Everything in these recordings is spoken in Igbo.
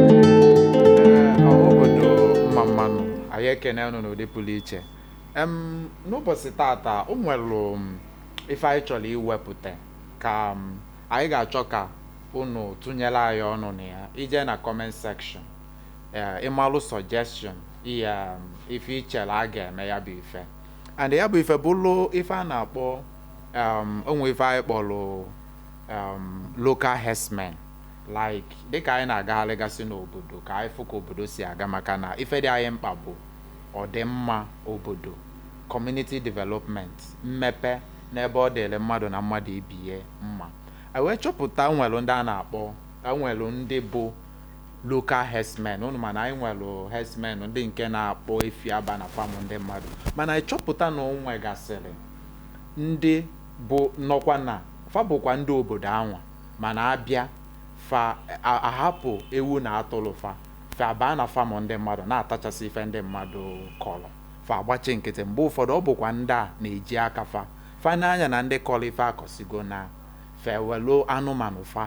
Ee, ọha obodo mma mma nụ anyị ekene unu n'ụdị pụrụ iche em n'ụbọsị tata o nwelụ ife anyị chọrọ iwepụta ka em, anyị ga-achọ ka unu tụnyere anyị ọnụ na ya i je na comment section ee ịmalụ suggestion ihe em, ife i chere a ga-eme ya bụ ife and ya bụ ife bụlụ ife a na-akpọ um, o nwe ife anyị kpọlụ um, local herdsmen like dịka anyị na-agagharịgasị n'obodo ka anyị fụ ka obodo si aga maka na ife dị anyị mkpa bụ ọdịmma obodo community development mmepe n'ebe ọ dịrị mmadụ na mmadụ ibe ya mma anyị wee chọpụta e nwelụ ndị a na-akpọ o nwelụ ndị bụ local herdsmen unu ma na anyị nwere herdsmen ndị nke na-akpọ efi aba na farm ndị mmadụ mana anyị chọpụta na o nwegasịrị ndị bụ nọkwa na fa bụkwa ndị obodo anwa mana a bịa fa a- ahapụ ewu na atụrụ fa fa abaa na farm ndị mmadụ na-atachasị ife ndị mmadụ kọrọ fa agbachi nkịtị mgbe ụfọdụ ọ bụkwa ndị a na-eji aka fa fa nee anya na ndị kọrọ ife akọsigo na fa ewelu anụmanụ fa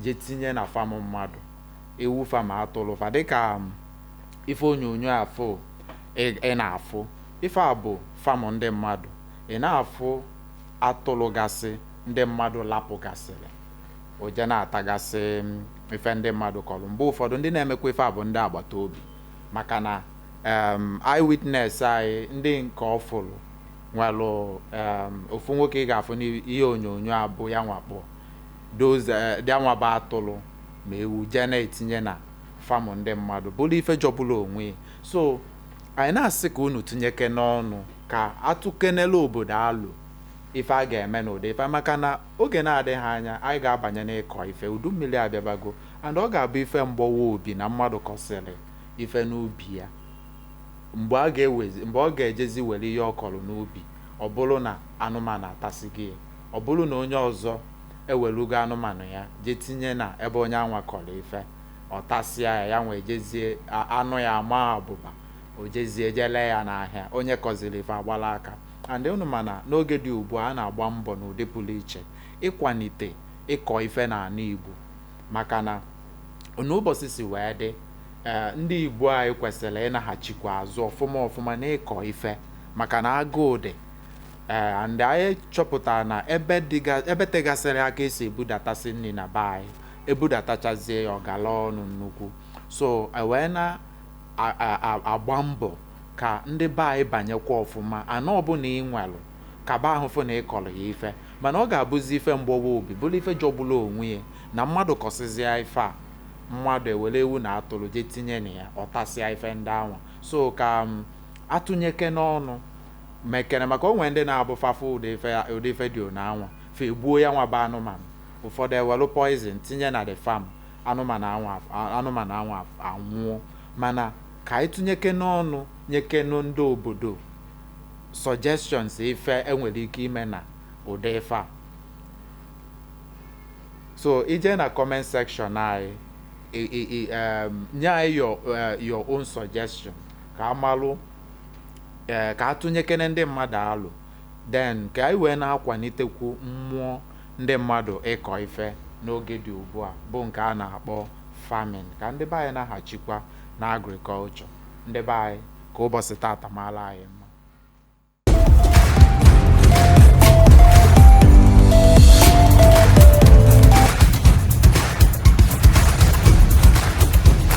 je tinye na farm mmadụ ewu fa ma atụrụ fa dịka um, ife onyonyo afụ ị na-afụ ife a bụ farm ndị mmadụ ị na-afụ atụrụ gasị ndị mmadụ lapụ gasịrị o je na-atagasị um, ife ndị mmadụ kọrọ mgbe ụfọdụ ndị na-emekwa ife a bụ ndị agbata obi maka na um, eyewitness anyị ndị nke ọ fụrụ o nwere ofu nwoke ị ga-afụ n'ihe onyonyo a bụ yanwa kpọ Those eh, ndị anwa bụ atụrụ ma ewu jee na-etinye na farm ndị mmadụ bụrụ ife jọgburu onwe ya. so anyị na-asị ka unu tinyekene ọnụ ka a tụkenelụ obodo alo ife a ga-eme n'ụdị ife maka na oge na-adịghị anya anyị ga-abanye n'ịkọ ife udu mmiri abịabago and ọ ga-abụ ife mgbawa obi na mmadụ kọsịrị ife n'ubi ya mgbe a ga-ewezi mgbe ọ ga-ejezi were ihe ọ kọrọ n'ubi ọ bụrụ na anụmanụ atasịgo ya Ọ bụrụ na onye ọzọ ewerugo anụmanụ ya je tinye na ebe onyanwa kọrọ ife, ọ tasịa ya, yanwa ejezie, anụ ya amaa abụba, o jezie je ree ya n'ahịa, onye kọziri ife agbala aka. And unu ma na n'oge dị ugbua, a na-agba mbọ n'ụdị pụrụ iche ịkwanite ịkọ ife n'anị Igbo maka na otu ụbọsị si wee dị, ndị Igbo anyị kwesịrị ịnaghachikwa azụ ọfụma ọfụma n'ịkọ ife maka na agụụ dị. ee and anyị chọpụtara na ebe dịga ebe tegasịrị aka esi ebudatasị nni na be anyị ebudatachazie ya ọ gala ọnụ nnukwu so e wee na a- a- a- agba mbọ ka ndị be anyị banyekwa ọfụma ana ọbụna i nwelụ kaba ahụ fụ na ị kọrọ ya ife mana ọ ga-abụzi ife mgbawa obi bụrụ ife jọgburu onwe ya na mmadụ kọsịzịa ife a mmadụ ewere ewu na atụrụ jee tinye na ya ọ tasịa ife ndị anwa so ka a tụnyekene ọnụ mekene maka o nwee ndị na-abụ fa fụ ụdị ife ya ụdị ife dị onu anwa, fa egbuo ya nwa bụ anụmanụ. Ụfọdụ ewelụ poison tinye na the farm, anụmanụ anwa anụmanụ anwa anwụọ. Mana ka anyị tụnyekene ọnụ nyekenụ ndị obodo suggestions ife e nwere ike ime na ụdị ife a. So i jee na comment section anyị, i i i um, nye anyị your uh, your own suggestion ka a malụ ee ka a tụnyekene ndị mmadụ alo then ka anyị wee na-akwanitekwu mmụọ ndị mmadụ ịkọ ife n'oge dị ugbu a bụ nke a na-akpọ farming ka ndị be anyị naghachikwa na agriculture ndị be anyị ka ụbọsị tata maara anyị mma